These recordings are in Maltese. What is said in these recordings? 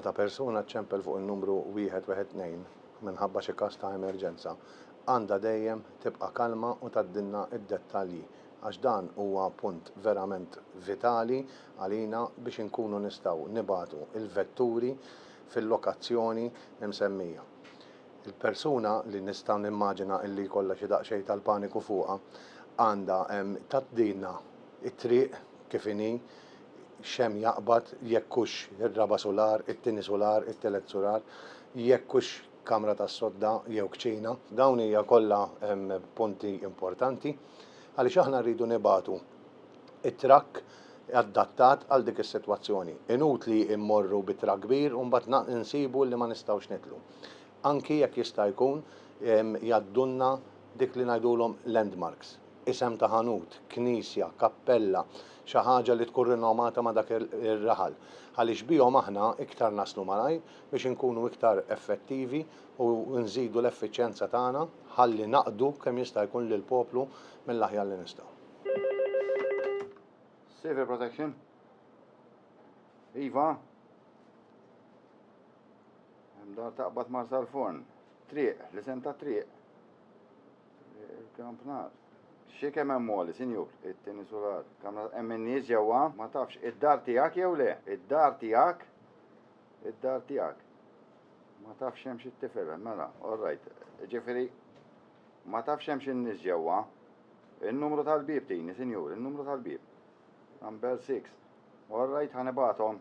Meta persuna ċċempel fuq in-numru 112 minħabba xi każ ta' emerġenza, għandha dejjem tibqa' kalma u tgħaddilna d-dettalji għax dan huwa punt verament vitali għalina biex inkunu nistgħu nibagħtu l-vetturi fil-lokazzjoni msemmija. Il-persuna, li nista' nimmaġina illi jkollha xi daqsxejn tal-paniku fuqha, għandha tgħaddilna t-triq kif inhi, x'hemm jaqbad, jekk hux ir-raba' sular, it-tieni sular, it-telet sular, jekk hux kamra tas-sodda jew kċina. Dawn hija kollha punti importanti għaliex aħna rridu nibagħtu t-trakk addattat għal dik is-sitwazzjoni. Inutli mmorru bi trakk kbir u mbagħad insibu li ma nistgħux nidħlu. anki jekk jista' jkun jgħaddulna dik li ngħidulhom landmarks, isem ta' ħanut, knisja, kappella, xi ħaġa li tkun rinomata ma' dak ir-raħal, għaliex bihom aħna iktar naslu malajr biex inkunu iktar effettivi u nżidu l-effiċjenza tagħna ħalli naqdu kemm jista' jkun lill-poplu mill-aħjar li nistgħu. Civil Protection, Iva. Hemm dar taqbad mar sal-forn. Triq, l-isem ta' triq. Il-kampnar. Xi kemm hemm għoli, sinjur? It-tieni sular. Kamra hemm in-nies ġewwa? Ma tafx, id-dar tiegħek jew le? Id-dar tiegħek? Id-dar tiegħek. Ma tafx hemmx it-tifel, mela, all right. Ġifieri, ma tafx hemmx in-nies ġewwa? In-numru tal-bieb tini, sinjur, in-numru tal-bieb. Number six. All right, ħa nibgħathom.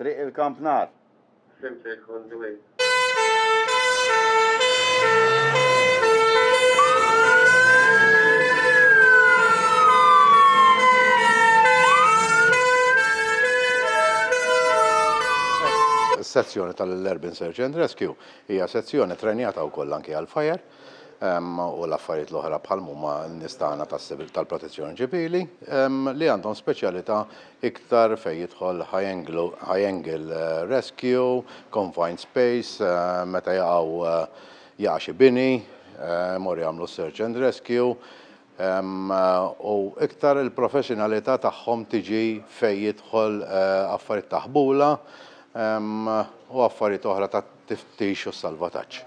Triq il-Kampnar. Fhimt li tkun dwiet. Is-sezzjoni tal-Urban Search and Rescue hija sezzjoni trenjata wkoll anke għal fire u l-affarijiet l-oħra bħal huma n-nies tagħna tal-Protezzjoni Ċivili li għandhom speċjalità iktar fejn jidħol high angle rescue, confined space, meta jaqgħu jaqa' xi bini, imorru jagħmlu search and rescue, u iktar il-professjonalità tagħhom tiġi fejn jidħol affarijiet ta' ħbula u affarijiet oħra tat-tiftix u s-salvataġġ.